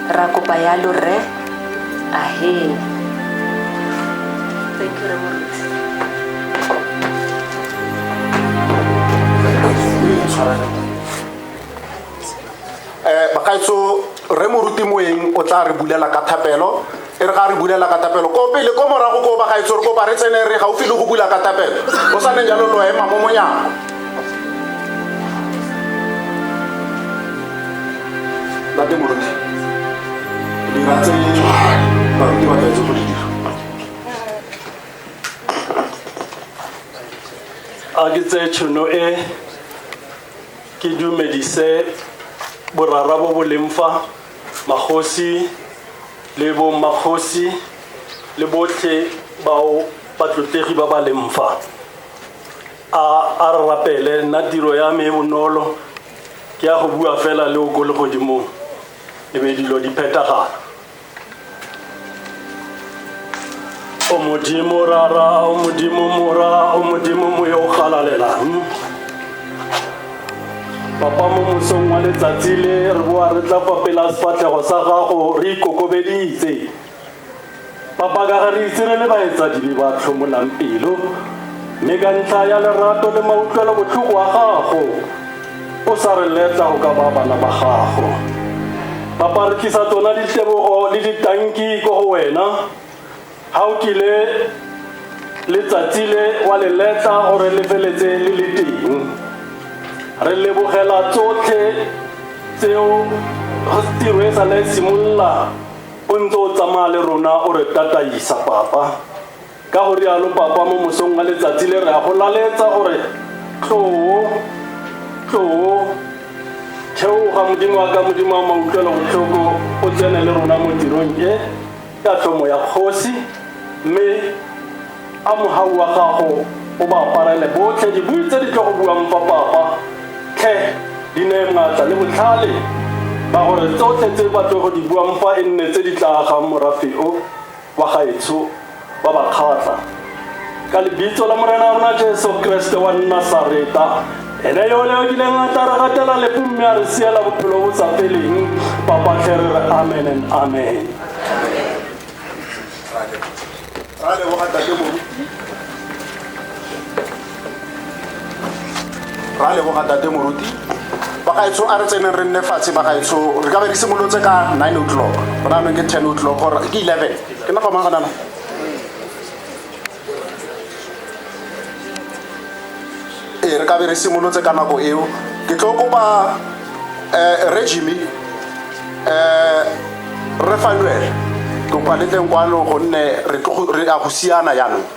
ra kopa yalo rre ahee thank you remoruti um bakaetso re moruti moeng o tla re bulela ka thapelo e re ga re bulela katapelo ko pele ko morago ko bagaetso re kopa re tsene re gaufi le go bula katapelo o sa ne jalo lo ema mo monyako late moruti dira tse baruti ba tletse go di dira a ke tseye tšhono e ke dumedise borara bo bo leng fa Magosi le bommakgosi le botlhe bao batlotlegi ba ba leng fa a a re rapele nna tiro ya me e bonolo ke ya go bua fela le o ko legodimong e be dilo di phethagala o modimo rara o modimo mora o modimo moya o galalelang papa mo mosong wa letsatsi le re boa re tla fa pela sefatlhego sa gago re ikokobeditse papa ka ga re itse re le baetsadibe ba tlhomolang pelo mme ka ntlha ya lerato le mautlwelo botlhoko wa gago o sa re letla go ka ba bana ba gago papa re tlisa tsona ditlebogo le ditanki ko go wena ga o kile letsatsi le wa le letla gore le feletse le le teng re lebogela tsotlhe tseo tiro e sa le simolola o ntse o tsamaya le rona o re tataisa papa Ka go rialo Papa mo mosong wa letsatsi le, re a go laletsa gore, Tloo, tloo, theoga Modimo wa ka, Modimo wa mautlwelobotlhoko, o tsene le rona mo tirong e, ka tlhomo ya Kgosi, mme a mogau wa gago o ba aparele botlhe dibui tse di tlo go buang fa Papa, tlhe di neye maatla le botlhale ba gore tsotlhe tse ba tlo go di buang fa e nne tse di tla agang morafe o. kwa gaetsho ba ba kgatla ka lebitso la morena rona jesu kreste wa nnasareta ene yone o kileng a tla re gatela lepo mme a re siela bophelo bo sa feleng papatlhe re re amen and amen ra leboga tate moruti ra leboga tate moruti bagaetsho a re tseneng re nne fatshe bagaetsho re ka be re simolotse ka nine o'clock gona anong ke ten o'clock gore ke eleven ke nna famang gonana ee re ka be re simolotse ka nako eo ke tlo kopa um regime um re fanuele kopa le teng kwano gonne re a go siana jaanong